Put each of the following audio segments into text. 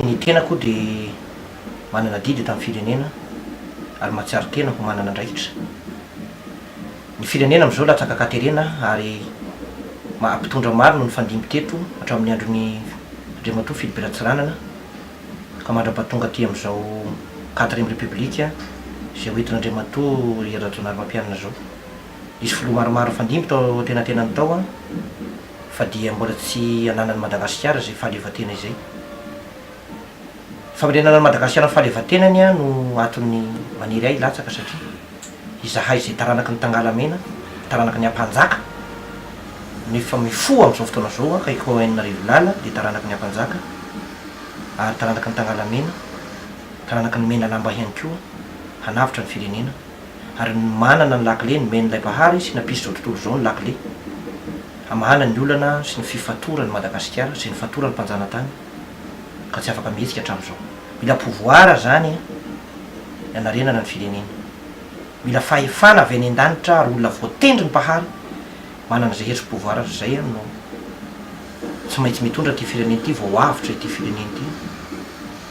Ny tena koa dia manana adidy eto amin'ny firenena ary mahatsiaro tena ho manana andraikitra. Ny firenena amin'izao latsaka ankaterena ary maha mpitondra maro no nifandimby teto hatramin'ny andron'i Andriamatoa Philippe Ratsiranana. ka mandrapa tonga aty amin'izao quatrième république izay ho entin'Andriamatoa Hery Rajaonarimampianina izao. Nisy filoha maromaro nifandimby tao an-tenatenany tao fa dia mbola tsy ananan'i Madagasikara izay fahaleovantena izay. Ny famerenana an'i Madagasikara ny fahaleovantenany no antony maniry ahy hilatsaka satria. izahay izay taranaky ny Tangalamena, taranaky ny Ampanjaka, no efa mifoha amin'izao fotoana izao, kay Cohen Rivolala dia taranaky ny Ampanjaka ary taranaky ny Tangalamena, taranaky ny Menalamba ihany koa, hanavotra ny firenena ary manana ny lakile, nomen'ilay Mpahary sy nampisy izao tontolo izao ny lakile, hamahana ny olana sy ny fifatoran'i Madagasikara sy ny fatoran'ny mpanjanatany ka tsy afaka mihetsika hatramin'izao. Mila pouvoir zany ny anarenana ny firenena. Mila fahefana avy any an-danitra ary olona voatendry ny Mpahary manana izay hery sy pouvoir ary izay ary no tsy maintsy mitondra ity firenena ity vao avotra ity firenena ity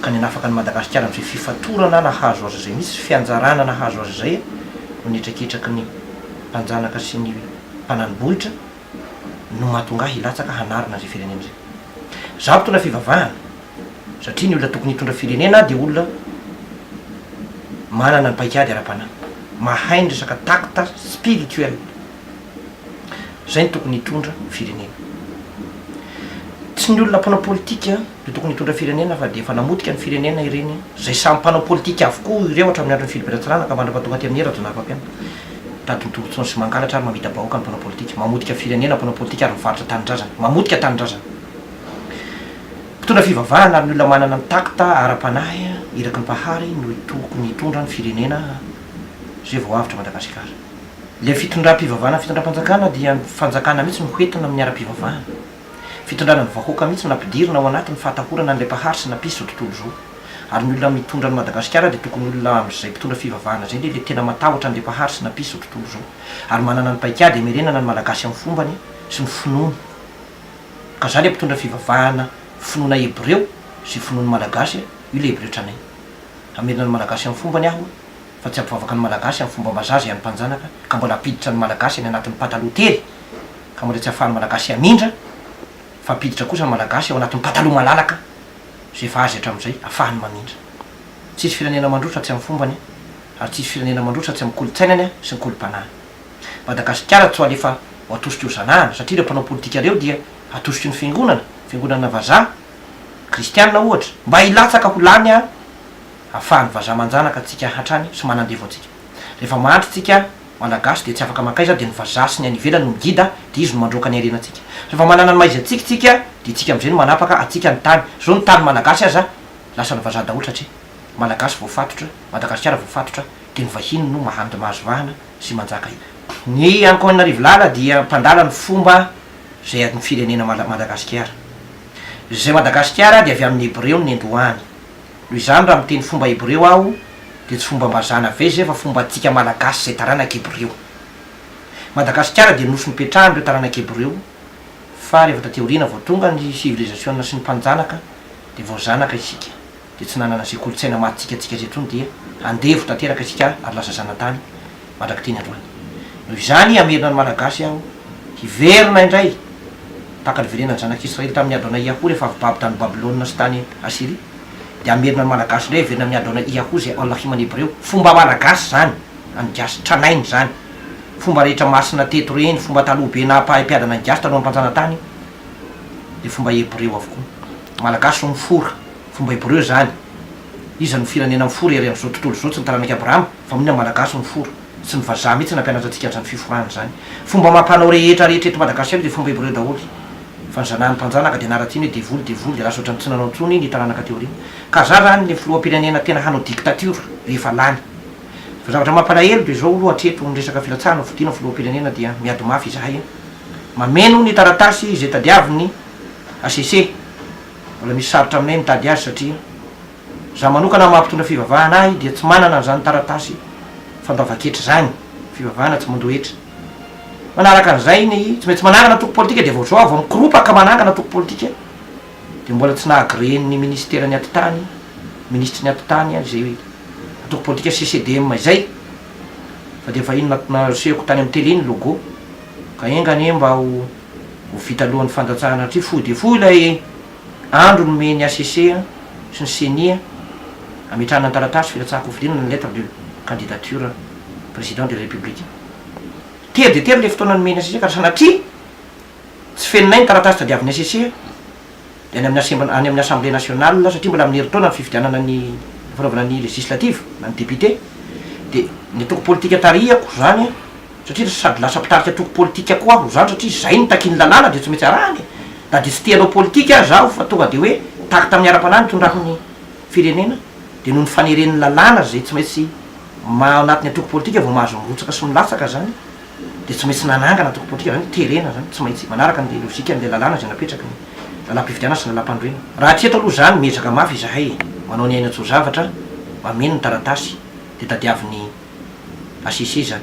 ka ny hanafaka an'i Madagasikara amin'izay fifatorana nahazo azy izay misy sy fianjarana nahazo azy izay no ny hetraketraky ny mpanjanaka sy ny mpanani-bohitra no mahatonga ahy hilatsaka hanarina izay firenena izay. Izaho mpitondra fivavahana satria ny olona tokony hitondra firenena dia olona manana ny paikady ara-panahy, mahay ny resaka takta spirituel. Izay no tokony hitondra firenena. Tsy ny olona mpanao politika Dia tokony hitondra firenena fa dia efa namotika ny firenena ireny an! Izay samy mpanao politika avokoa ireo hatramin'ny andron'ny Filobe Ratsirahana ka mandra-paha tonga aty amin'ie Rajaonah Mpampianina. Mitady ny tombotsoany sy mangalatra ary mamita-bahoaka ny mpanao politika. Mamotika firenena mpanao politika ary mivarotra tanindrazana. Mamotika tanindrazana. Mpitondra fivavahana ary ny olona manana ny tact ara-panahy iraky ny Mpahary no tokony hitondra ny firenena izay vao avotra Madagasikara. Ilay fitondram-pivavahana fitondram-panjakana dia ny fanjakana mihitsy no hoentina amin'ny ara-pivavahana. Fitondrana ny vahoaka mihitsy no nampidirina ao anatin'ny fahatahorana an'ilay mpahary sy nampisy izao tontolo izao. Ary ny olona mitondra an'i Madagasikara dia tokony olona amin'izay mpitondra fivavahana izay indrindra tena matahotra an'ilay mpahary sy nampisy izao tontolo izao. Ary manana ny paikady hamerenana ny Malagasy amin'ny fombany sy ny finoany. Ka za ilay mpitondra fivavahana finoana hebreo sy finoan'ny Malagasy, io ilay hebreo tranainy. Hamerina ny Malagasy amin'ny fombany aho. fa tsy ampivoavaka ny Malagasy amin'ny fomba vazaha izay an'ny mpanjanaka ka mbola ampiditra ny Malagasy any anatin'ny pataloha tery ka mbola tsy ahafahan'ny Malagasy hamindra fa ampiditra kosa ny Malagasy ao anatin'ny pataloha malalaka izay efa azy hatramin'izay afahany mamindra. Tsisy firenena mandroso raha tsy amin'ny fombany ary tsisy firenena mandroso raha tsy amin'ny kolontsainany sy ny kolompanany. Madagasikara tsy ho alefa ho atosik'io zanahana satria ireo mpanao politika ireo dia atosik'io ny fiangonana, fiangonana vazaha, kristiana ohatra, mba hilatsaka ho lany any. afahan'ny vazaha manjanaka antsika hatrany sy manandevo antsika. Rehefa mandry tsika Malagasy dia tsy afaka mankaiza dia ny vazaha sy ny any ivelany no migida dia izy no mandroaka ny harena antsika. Rehefa manana ny maizy antsika tsika dia tsika amizay no manapaka antsika ny tany. Zao ny tany Malagasy aza lasan'ny vazaha daholo satria Malagasy voafatotra, Madagasikara voafatotra dia ny vahiny no mahandy mahazo vahana sy manjaka eny. Ny Ankoanarivolala dia mpandala ny fomba zay adin'ny firenena Madagasikara. Zay Madagasikara dia avy amin'ny Hebreo ny nendohany. Noho izany raha miteny fomba hebreo aho dia tsy fombam-bazaha navezy zay fa fomba antsika malagasy zay taranaka hebreo. Madagasikara dia nosy nipetrahan ireo taranaka hebreo fa rehefa taty aoriana vao tonga ny sivilizasiona sy ny mpanjanaka dia vao zanaka isika dia tsy nanana zay kolotsaina maha tsika tsika zay tsony dia andevo tanteraka isika ary lasa zanatany mandrak'ity ny androany. Noho izany, hamerina ny Malagasy aho hiverina indray tahaka ny verenan'ny zanak'Israely tamin'ny Adona Iahou rehefa avy babo tany Babylona sy tany Asyria, dia hamerina ny Malagasy indray hiverina amin'ny Adona Iahou izay Allah Iman Hebreo. Fomba Malagasy izany, an'ny Gasy tranainy izany. Fomba rehetra masina teto ireny, fomba taloha be naha-mpahay-mpiadana ny Gasy talohan'ny mpanjana-tany dia fomba Hebreo avokoa. Ny Malagasy no mifora, fomba Hebreo izany. Iza no firenena mifora ery amin'izao tontolo izao, tsy ny taranak'i Abrahama? Fa mony ny malagasy no fora, tsy ny vazaha mihitsy nampianatra antsika anzany fiforana izany. Fomba amam-panao rehetra rehetra eto Madagasikara dia fomba hebreo daholo. Fa ny zanahan'ny mpanjanaka dia naratina hoe devoly devoly dia lasa ohatran'ny tsy nanao intsony ny taranaka aty aoriana. Ka zara zany ny filoham-pirenena tena hanao dictature rehefa lany. Fa zavatra mampalahelo dia izao aloha hatreto ny resaka filatsahana fodiana filoham-pirenena dia miady mafy izahay a. Mameno ny taratasy izay tadiaviny HCC. Mbola misy sarotra aminay mitady azy satria Za manokana amin'ny maha mpitondra fivavahana ahy dia tsy manana an'izany taratasy fandoavan-ketra izany, fivavahana tsy mandoa hetra. Manaraka an'izay ny tsy maintsy manangana antoko politika dia vao izao aho vao mikoropaka manangana antoko politika dia mbola tsy naha-agrean'ny minisiteran'ny atitany, minisitry ny atitany aho izay antoko politika CCDM izay fa dia efa iny nasehoko tany amin'ny tele iny logo ka enga anie mba ho vita alohan'ny fandatsahana satria fohy dia fohy ilay Andro nomen'ny hcc sy ny ceni hametrahana ny taratasy filatsahan-kofidinana ny lettre de candidature président de la République. Tery dia tery ilay fotoana nomen'ny hcc ka raha sanatria tsy fenonay ny taratasy tadiavin'ny hcc dia any amin'ny assemb any amin'ny assemblée nationale satria mbola amin'ny herintaona ny fifidianana ny fanaovana ny législative na ny député dia ny antoko politika tarihako izany Satria ry sady lasa mpitarika antoko politika koa aho izany satria izay no takian'ny lalàna dia tsy maintsy arahana e! Na dia tsy tia hanao politika aza aho fa tonga dia hoe tahaka tamin'ny ara-panahy ny tondrako ny firenena dia noho ny faneren'ny lalàna izay tsy maintsy maha ao anatin'ny antoko politika vao mahazo mirotsaka sy milatsaka izany dia tsy maintsy nanangana antoko politika izany hoe terena izany tsy maintsy manaraka an'ilay logikan'ilay lalàna izay napetraky ny lalàm-pifidianana sy ny lalàm-pandroina. Raha hatreto aloha izany miezaka mafy izahay e! manao ny aina tso-zavatra, mameno ny taratasy dia tadiavin'ny. HCC zany.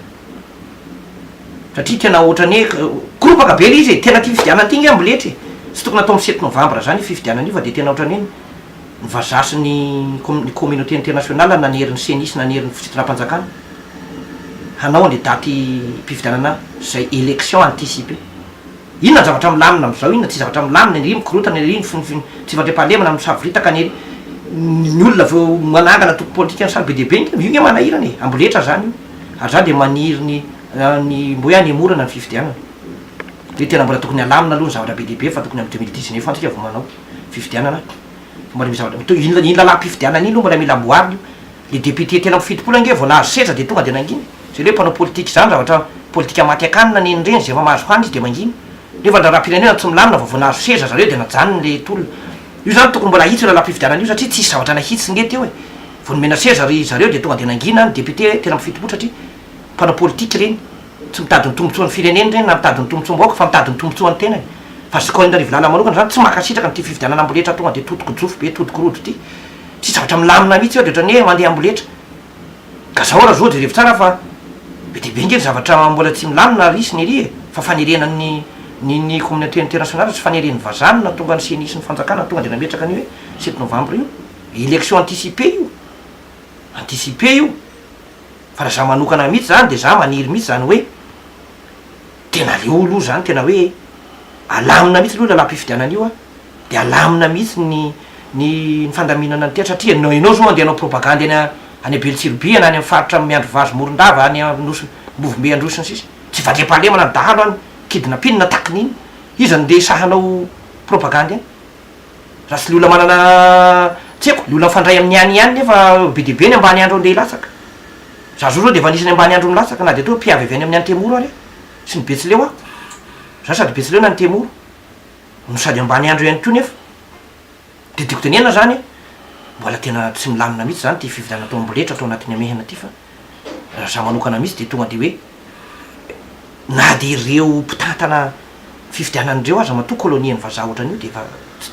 Satria tena ohatrany hoe koropaka be le izy e, tena ty fifidianana ty nge amboletra e, tsy tokony atao am sept novambra zany io fifidianana io fa de tena ohatrany hoe ny vazaha sy ny ny communauté internationale nanery ny ceni sy nanery ny fitondram-panjakana hanao anle daty mpifidianana zay élection anticipée. Inona ny zavatra milamina amin'izao? Inona tsy zavatra milamina ery? Mikorontana ery ny finofinon tsy fandriampahalemana misavoritaka any ery. Ny olona avy eo manangana antoko politika sarobe dia be nge, io nge manahirana e! Amboletra izany io, ary izaho dia maniry ny ny mba hoe hanemorana ny fifidianana. Hoe tena mbola tokony halamina aloha ny zavatra be dia be fa tokony amin'ny deux mille dix neuf any isika vao manao fifidianana. Fa mbola misy zavatra, inona iny lalam-pifidianana iny aloha mbola mila amboarina io. Le député telo amby fitopolo ange vao nahazo seza de tonga de nangina? Zay le mpanao politika zany zavatra politika maty akanina neny reny zay efa mahazo hanina izy de mangina? Nefa ny raharaham-pirenena tsy milamina vao vao nahazo seza zareo de najanony le tolona. Io zany tokony mbola ahitsy io lalam-pifidianana io satria tsisy zavatra nahitsy nge teo e! Vao nomena seza ry zareo de tonga de nangina ny député telo amby fitopolo satria mpanao politika reny tsy mitady ny tombotsoan'ny fireneny reny na mitady ny tombotsoam-bahoaka fa mitady ny tombotsoan'ny tenany. Fa zokao Henrive Lala manokana zany tsy mankasitraka an'ity fifidianana amboletra tonga de todiko jofy be todiko rojo ty. Tsy zavatra milamina mihitsy eo de ohatran'ny hoe mandeha amboletra. Ka zao ra zo jerevy tsara fa be dia be nge ny zavatra mbola tsy milamina ary hisy ny ery e! Fa faniriana ny ny ny communauté internationale sy fanirian'ny vazaha no nahatonga ny ceni sy ny fanjakana tonga de nametraka an'io hoe sept novembre io. Election anticipée io. Anticipée io. Fa ra za manokana mihitsy zany de za maniry mihitsy zany hoe. Tena leo aloha zany tena hoe alamina mihitsy aloha ny lalam-pifidianana io a, dia alamina mihitsy ny ny ny fandaminana ny tetra satria ianao ianao zao andeha hanao propagandy any any Belotsirobiha na any amin'ny faritra miandry vazo Morondava any Anosy Ambovombe Androy sy ny sisa tsy vadiam-pahalemana ny dahalo any kidnapin-na takin'ina iza no ndeha sahanao propagandy any Raha tsy ny olona manana tsy haiko, ny olona mifandray amin'ny any ihany nefa be dia be ny ambaniandro andeha hilatsaka. Za zao zao dia efa anisan'ny ambaniandro milatsaka na dia toa mpiavy avy any amin'ny Antemoro ary aho sy ny Betsileo aho. Za sady Betsileo na Antemoro no sady ambaniandro ihany koa nefa dia tiako tenenana zany hoe mbola tena tsy milamina mihitsy zany ity fifidianana atao amboletra atao anatin'ny hamehana ity fa Raha za manokana mihitsy dia tonga dia hoe na dia ireo mpitantana fifidianana ireo aza matoa kolonian'ny vazaha ohatran'io dia efa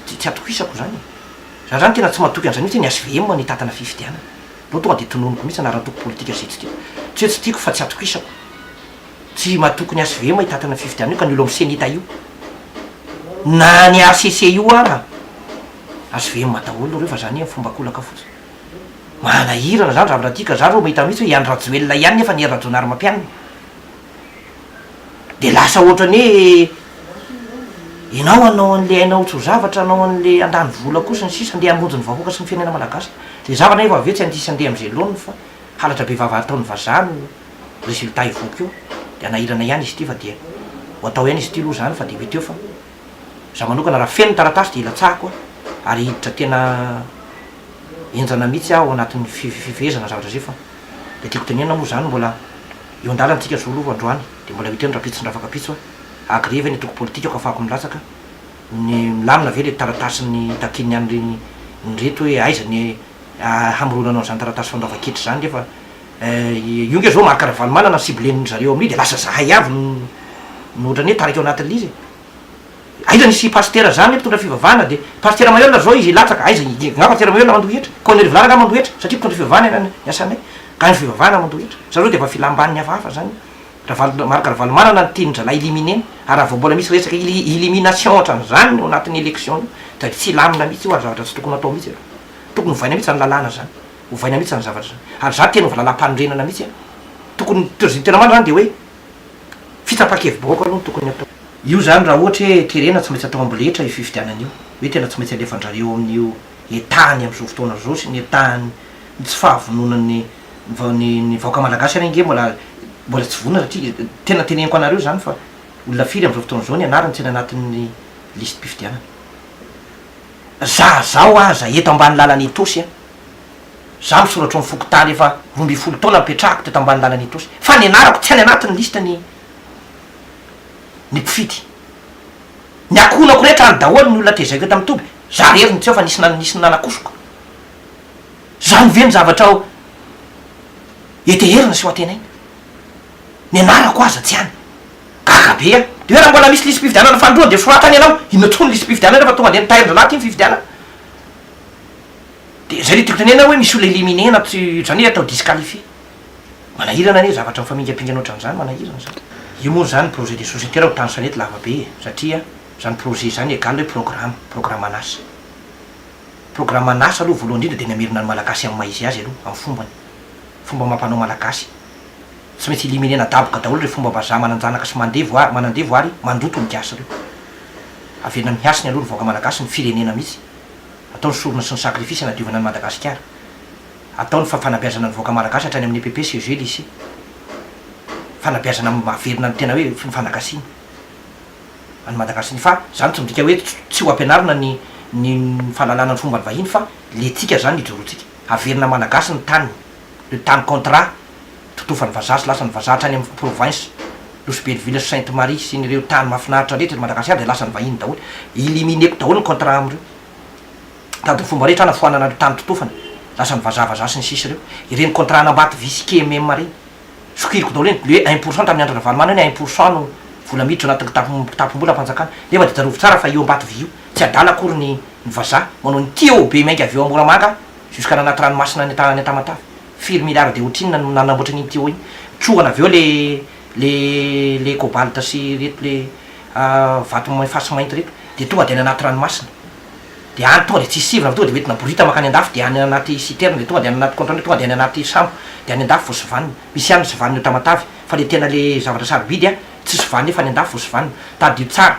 tsy atokisako izany e. Za izany tena tsy matoky an'izay mihitsy hoe ny HVM no hitantana fifidianana. Aleo tonga dia tononiko mihitsy anaran'ny antoko politika izay tsy tiako. Tsy hoe tsy tiako fa tsy atokisako. Tsy matoky ny HVM hitantana fifidianana io ka ny olo amin'ny Cenita io. Na ny HCC io ara. HVM daholo ireo fa izany amin'ny fomba an-kolaka fotsiny. Manahirana izany raha miraha tia ka za ro mahita mihitsy hoe i Andry Rajoelina ihany nefa ny hery Rajaonarimampianina dia lasa ohatrany hoe ianao hanao an'ilay hainao tsy ho zavatra hanao an'ilay handany vola koa sy ny sisa ndeha hamonjy ny vahoaka sy ny firenena malagasy dia za anefa avy eo tsy handiso handeha amin'izay laoniny fa halatra be vava ataon'ny vazaha no résultat hivoaka eo dia hanahirana ihany izy ity fa dia ho atao ihany izy ity aloha izany fa dia mety eo fa Za manokana raha feno ny taratasy dia ilatsahako ary hiditra tena henjana mihitsy aho anatin'ny fifehezana zavatra zay fa le tiako tenenina moa zany mbola eo an-dalana tsika zao aloha androany dia mbola miteny rapitso ndra fankapitso hoe agree ve ny antoko politika ko afahako milatsaka ny milamina ve le taratasin'ny takian'ny an'ireny ny reto hoe aiza ny hamoronanao an'izany taratasy fandoavan-ketra izany nefa Io nge zao Marc Ravalomanana no cible-ny zareo amin'io de lasa zahay avy no no ohatran'ny hoe taraiky ao anatin'ilay izy e! Aiza nisy i Pasitera zany hoe mpitondra fivavahana de Pasitera Maheula zao izy latsaka aiza i ngah Pasitera Maheula mandoa hetra? Koa an'i Rivolara ngah mandoa hetra satria mpitondra fivavahana ny an'ny asanay ka ny fivavahana mandoa hetra? Sa zao de efa filam-ban'ny hafahafa zany io? Ravalo Marc Ravalomanana no tian'ny zalahy éliminer ary raha vao mbola misy resaka éli elimination ohatran'izany ao anatin'ny élection io da tsy hilamina mihitsy io ary zavatra tsy tokony atao mihitsy aloha. Tokony ovaina mihitsy zany lalàna zany. Ovaina mihitsy zany zavatra zany. Ary za te hanova lalam-panorenana mihitsy a. Tokony ny prezidan tena marina zany de hoe fitsapan-kevi-bahoaka aloha no tokony atao. Io zany raha ohatra hoe terena tsy maintsy atao amboletra io fifidianana io. Hoe tena tsy maintsy alefan-drareo amin'io etaany amin'izao fotoana zao sy ny etaany ny tsy fahavononan'ny ny ny vahoaka malagasy ary ange mbola mbola tsy vonona satria tena teneniko anareo zany fa olona firy amin'izao fotoana izao ny anarany tsy any anatin'ny listim-pifidianana. Za zao aza eto ambany lalana etoa sy a. Za misoratro ny fokontany efa roa ambin'ny folo taona nipetrahako teto Ambanilanan' Itosy fa ny anarako tsy any anatin' ny liste ny ny mpifidy. Ny ankohonako rehetra any daholo ny olona tezaiko eto amin' ny toby, za rery no tsy eo fa nisy nisy ny nanakosoka. Zany ve ny zavatra ho heteherina sy ho antenaina? Ny anarako aza tsy any. Gaga be aho. Dia hoe raha mbola misy lisi-pifidianana fanindroany dia soratany ianao. Inona tokoa ny lisi-pifidianana rehefa tonga dia nitahirin-drahalahy ity ny fifidianana? de zay le tiako tenena hoe misy olona éliminer anaty zany hoe atao disqualifier manahirana anie zavatra mifamingampingana otran'zany manahirana zany io moa zany projet de société raha ho tany Sanety lava be e satria zany projet zany egal hoe programa programan'asa programan'asa aloha voalohany indrindra de namerina ny malagasy amin'ny maha izy azy aloha amin'ny fombany fomba amam-panao malagasy tsy maintsy éliminer nadaboka daholo reo fombam-bazaha mananjanaka sy mandevo ary manandevo ary mandoto ny gasy reo averina mihasina aloha ny vahoaka malagasy ny firenena mihitsy Atao ny sorona sy ny sakrifisy hanadiovana an'i Madagasikara. Atao ny fa fanabeazana ny vahoaka malagasy hatrany amin'ny EPP, CEG, Lycée. Fanabeazana mahavelona ny tena hoe ny fanagasiana an'i Madagasi-ny. Fa izany tsy midika hoe tsy ho ampianarina ny ny fahalalana ny fomban'ny vahiny fa lentsika izany ijoroantsika. Haverina malagasy ny taniny. de tany Contra, totofan'ny vazaha sy lasan'ny vazaha hatrany amin'ny provinces, Nosy be Villa sy Sainte Marie sy ny ireo tany mahafinaritra rehetra eto Madagasikara dia lasan'ny vahiny daholo, élimineko daholo ny Contra amin'ireo, mitady ny fomba rehetra aho hanafoanana ireo tany totofana, lasan'ny vazaha vazaha sy ny sisa ireo, ireny Contra an'Ambato vy sy KMM ireny, sokiriko daholo ireny, le un pour cent tamin'ny Andry Ravalomanana hoe un pour cent no vola miditra anatin'ny kitapo kitapom-bola am-panjakana, nefa dia tsarovy tsara fa io Ambato vy io, tsy adala akory ny ny vazaha, manao ny TOB mainka avy eo Moramanga, Jusqu'à nanaty ranomasina any any Tamatave. Firy milliards de otrinona no nanamboatra an'iny tuyau iny. Trohana avy eo le le le cobalt sy ireto le vato efa sy mainty ireto. Dia tonga dia any anaty ranomasina. Dia any tonga dia tsy hisy sivana fa tonga dia hoentina boriditra mankany an-dafy dia any anaty citerne dia tonga dia any anaty conteneur tonga dia any anaty sambo dia any an-dafy vao sivanina. Misy ihany ny sivanina eo Tamatave fa le tena le zavatra sarobidy a, tsy sivanina eo fa any an-dafy vao sivanina. Tadidio tsara.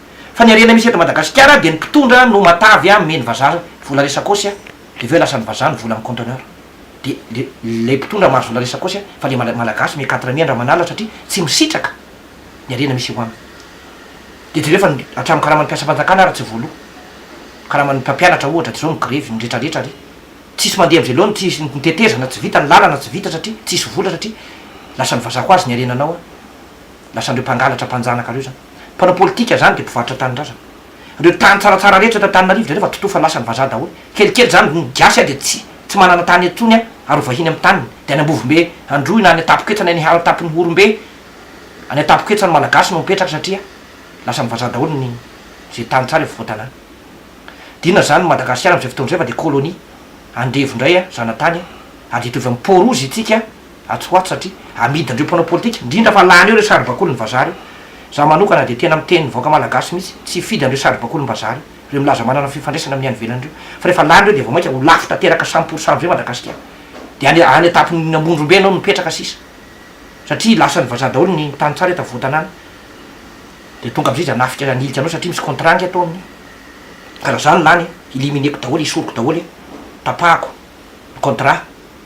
Fa ny harena misy eto Madagasikara dia ny mpitondra no matavy a meny vazaha vola resakôsy a dia avy eo lasan'ny vazaha ny vola amin'ny conteneur dia le ilay mpitondra mahazo vola resakôsy a fa le mala malagasy me quatre mi andramanala satria tsy misitraka ny harena misy eo aminy dia jereo fa ny hatramin'ny karaman'ny mpiasam-panjakana ary tsy voaloa karaman'ny mpampianatra ohatra dia zao migrevy miretraretra ary tsisy mandeha am'zay loha ny tsy hisy ny tetezana tsy vita ny lalana tsy vita satria tsisy vola satria lasan'ny vazaha koa azy ny harenanao a lasan'ireo mpangalatra mpanjanaka reo zany. Mpanao politika izany dia mpivarotra tanindrazana. Ireo tany tsaratsara rehetra eto Antananarivo dia rehefa tontoa fa lasan'ny vazaha daholo. Kelikely izany no gasy dia tsy tsy manana tany intsony ary ho vahiny amin'ny taniny dia any Ambovombe Androy na any Antapoketra any Aniharo Antapon'Ihorombe any Antapoketra ny Malagasy no mipetraka satria lasan'ny vazaha daholo ny izay tany tsara efa voatanàna. Dia inona izany ny Madagasikara amin'izay fotoana izay fa dia colonie. Andevo indray zanatany ary dia hitovy amin'ny Port Rouge isika. atsy ho atsy satria amidin dreo mpanao politika indrindra fa lany eo reo saribakolin vazaha reo za manokana dia tena miteny ny vahoaka malagasy mitsy tsy hifidy an dreo saribakolin bazaha reo reo milaza manana fifandraisana amin ny any ivelany reo fa refa lany reo dia vao maika ho lafo tateraka cent pour cent amizay madagasikara dia any any atapon ny amondrombe anao no mipetraka sisa satria lasan ny vazaha daholo ny tany tsara eto afovoantanana dia tonga amizay izy hanafika hanilika anao satria misy contrat nge atao amin ny ka raha za no lany elimineko daholo esoriko daholo e tapahako ny contrat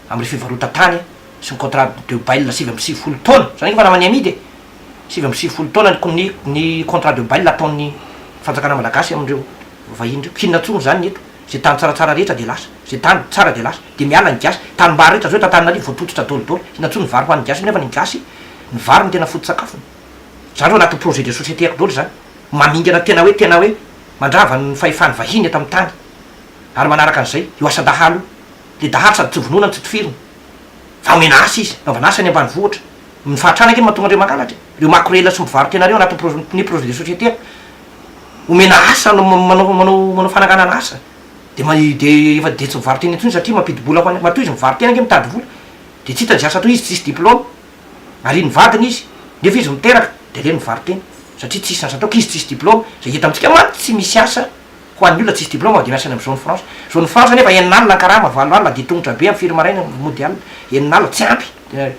amle fivarotatany sy ny contrat de bail sivy amby sivifolo taona zany efa namany amidy e! sivy amby sivifolo taona ny ny contrat de bail ataon'ny fanjakana malagasy amindreo vahiny ireo k'inona intsony izany ny eto ze tany tsaratsara rehetra de lasa ze tany tsara de lasa de miala ny gasy tanimbary rehetra zao eto antananarivo voapototra daoly daoly inona intsony ny vary hoan'ny gasy nefa ny gasy ny vary no tena foto-tsakafony zany reo anatin'ny projet de société ako daoly zany mamingana tena hoe tena hoe mandrava ny fahefany vahiny eto amin'ny tany ary manaraka an'izay, io asa dahalo io, le dahalo sady tsy vonoina no tsy tifirina, fa omena asa izy, anaovana asa ny ambanivohitra, ny fahantrana ange no mahatonga andreo mangalatra e, reo makorela sy mivarotena reo anatin'ny projet ny projet de société, omena asa no manao manao manao fananganana asa, de ma de efa de tsy mivarotena intsony satria mampidi-bola ho any, matoa izy mivarotena ange mitady vola, de tsy hita izay asa atao izy tsisy diplôme, arian'ny vadiny izy, nefa izy miteraka, de aleo ny mivarotena, satria tsisy asa atao k'izy tsisy diplôme, zay hita amintsika mantsy tsy misy asa. Ho an'ny olona tsisy diplaoma dia miasa any amin'ny zone franche. Zone franche anefa enina alina ny karama, valo alina dia tongotra be amin'ny firy maraina no mody alina, enina alina tsy ampy dia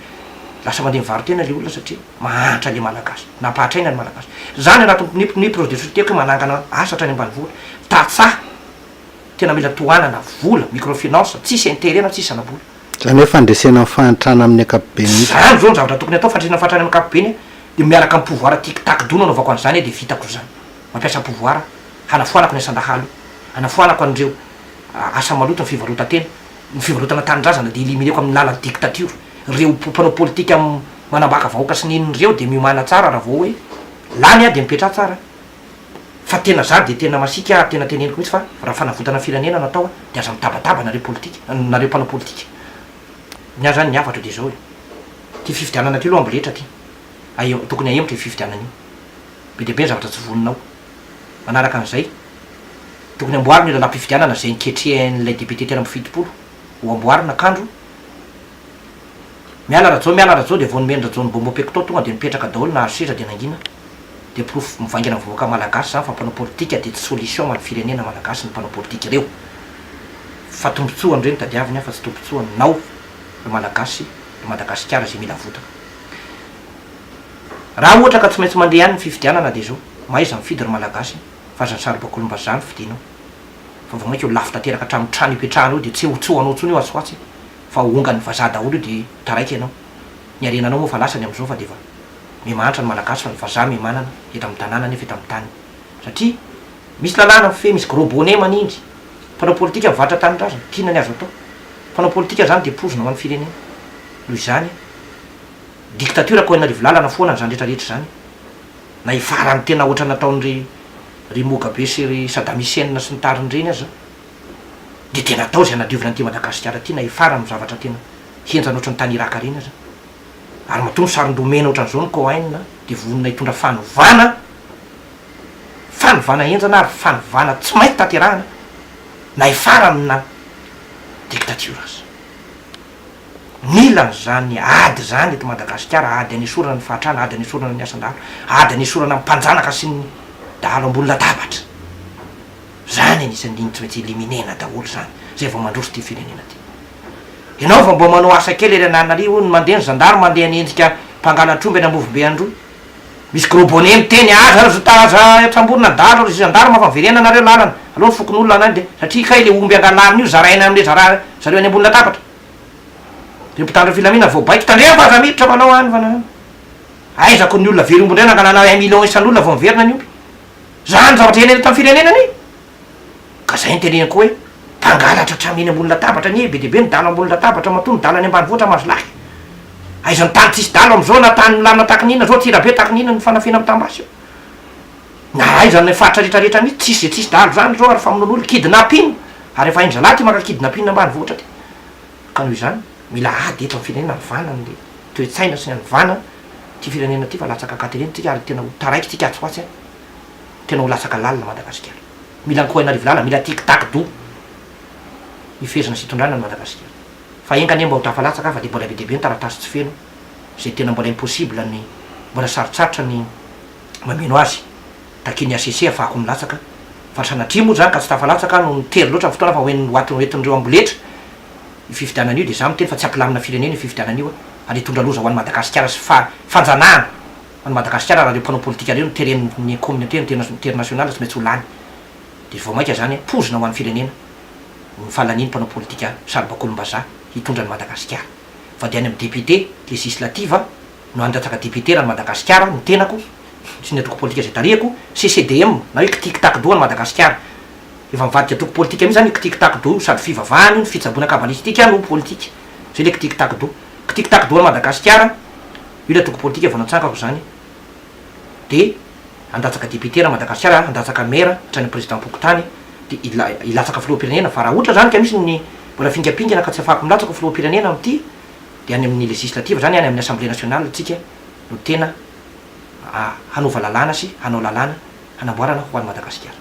lasa mandeha mivaro-tena ilay olona satria mahantra ilay Malagasy, nampahantraina ny Malagasy. Izaho ny anatin'ny ny projet de société-ko hoe manangana asa hatrany ambanivohitra, tantsaha tena mila tohanana, vola, microfinance, tsisy intérêt na tsisy zana-bola. Izany hoe fandresena ny fahantrana amin'ny ankapobeny mihitsy. Izany izao ny zavatra tokony hatao, fandresena ny fahantrana amin'ny ankapobeny dia miaraka amin'ny pouvoir tic-tac dono anaovako an'izany dia vitako izany. mampiasa pouvoir hanafoanako ny asan-dahalo, hanafoanako an'ireo asa maloto ny fivarotan-tena, ny fivarotana tanindrazana dia elimineko amin'ny lalan'ny dictature, ireo mpanao politika manambaka vahoaka sy nini ireo dia miomana tsara raha vao hoe lany aho dia mipetraha tsara fa tena za dia tena masiaka ary tena teneniko mihitsy fa raha fanavotana firenena no atao dia aza mitabataba nareo politika, nareo mpanao politika ny ahy zany ny hafatra dia izao e, ity fifidianana ity aloha amboletra ity, tokony ahemotra io fifidianana io. Be dia be ny zavatra tsy voninao. Manaraka an'izay, tokony amboarina io lalam-pifidianana izay niketrehan'ilay député telo amby fitopolo ho amboarina kandro. Miala Rajao miala Rajao dia vao nomeny Rajao ny bonbon pecto tonga dia nipetraka daholo nahazo seza dia nangina. Dia porofo mivaingana amin'ny vahoaka malagasy izany fa mpanao politika dia tsy solution ho an'ny firenena malagasy ny mpanao politika ireo. Fa tombotsoany ireo no tadiaviny fa tsy tombotsoanao ry malagasy ry Madagasikara izay mila votana. Raha ohatra ka tsy maintsy mandeha any ny fifidianana dia izao, mahaiza mifidy ry Malagasy a! fa aza ny saribakolim-basy izany no fidinao fa vao mainka eo lafo tanteraka hatramin'ny trano ipetrahana eo dia tsy ho tsy ho anao intsony io atsy ho atsy fa ho ongan'ny vazaha daholo io dia taraiky ianao. Ny harenanao moa efa lasany amin'izao fa dia efa miha mahantra ny Malagasy fa ny vazaha miha manana eto amin'ny tanàna nefa eto amin'ny tany satria misy lalàna mifehy, misy gros bonnet manindry. Mpanao politika mivarotra tanindrazana, k'inona ny azo atao? Mpanao politika izany dia poizina ho an'ny firenena. Noho izany. dictature ko anarivo lalana foana izany rehetra rehetra izany na i farany tena otrany nataon ry ry mogabe sy ry sadam hussein sy ny tariny ireny aza dia dia natao izay nadiovina an'ity madagasikara ity na i farany no zavatra tena henjana otrany tany iraka ireny aza ary matoa ny saron domena otran'izao ny cohen a dia vonona hitondra fanovana fanovana henjana ary fanovana tsy maintsy tanterahana na i farany na dictature aza. Mila an'izany ady izany eto Madagasikara, ady hanesorana ny fahatrana, ady hanesorana ny asan-dahalo, ady hanesorana ny mpanjanaka sy ny dahalo ambony latabatra. Izany anisan'ny tsy maintsy éliminer-na daholo izany izay vao mandroso ity firenena ity. Ianao vao mba manao asa kely ery Ananarivo, ny mandeha ny zandary mandeha ny endrika mpangalatr'omby any Ambovombe Androy. Misy gros bonnet miteny aza ry zta aza tramborina dahalo ry gendarme fa verena nareo lalana aleo ny fokonolona anay de satria kay le omby angalarina io zaraina amle zara zareo any ambony latabatra reo mpitandro ny filaminana voabaiko tandremo fa aza miditra manao any fa nanana aiza ko ny olona very omby ndray nangalana un million isan'olona vao miverina ny omby zany zavatra henena eto am firenena any Ka zay no teneniko hoe mpangalatra hatramy eny ambony latabatra anie be dia be ny dalo ambony latabatra matoa ny dalo any ambanivohitra mahazo lahy. Aiza ny tany tsisy dalo amzao na tany milamina tahaka ny inona zao Antsirabe tahaka ny inona ny fanafihana mitam-basy eo. Na aiza ny faritra rehetra rehetra mitsy tsisy ze tsisy dalo zany zao ary famonoan'olona, kidnapping, ary efa hainy zalahy ty maka kidnapping ambanivohitra ty. Ka noho izany mila ady eto am firenena havana ny toe-tsaina sy ny hanovana ty firenena ty fa latsaka akaty ireny tsika ary tena ho taraiky tsika atsy ho atsy a. Tena ho latsaka lalina Madagasikara. Mila ankohain'arivo lala, mila tic tac doux hifehezana sy hitondrana ny Madagasikara. Fa enga anie mba ho tafalatsaka aho fa dia mbola be dia be ny taratasy tsy feno izay tena mbola impossible ny mbola sarotsarotra ny mameno azy takian'ny HCC afahako milatsaka fa sanatria moa izany ka tsy tafalatsaka aho nohon'ny tery loatra ny fotoana fa hoen'ny hoatin'ny hoentin'ireo amboletra io fifidianana io dia izaho miteny fa tsy hampilamina firenena io fifidianana io ary hitondra loza ho an'i Madagasikara sy fa fanjanahana Any Madagasikara raha reo mpanao politika reo no tereny ny communauté internationale tsy maintsy ho lany de vao maika zany pozina ho any firenena ny falania ny mpanao politika saribakolombazaha hitondra any Madagasikara fa de any am député législative no handatsaka député raha any Madagasikara ny tenako sy ny antoko politika zay tarihako CCDM na hoe kitikitakdo any Madagasikara efa mivadika antoko politika mihitsy zany io kitikitakdo io sady fivavahana io ny fitsaboana kabalistika no politika zay le kitikitakdo kitikitakdo any Madagasikara Io ilay antoko politika vao natsangako izany dia handatsaka député raha Madagasikara, handatsaka maire hatrany président pokontany dia hilatsaka filoham-pirenena fa raha ohatra izany ka misy ny mbola fingampingana ka tsy afahako milatsaka ho filoham-pirenena amin'ity dia any amin'ny législative izany, any amin'ny assemblée nationale tsika no tena hanova lalàna sy hanao lalàna hanamboarana ho an'i Madagasikara.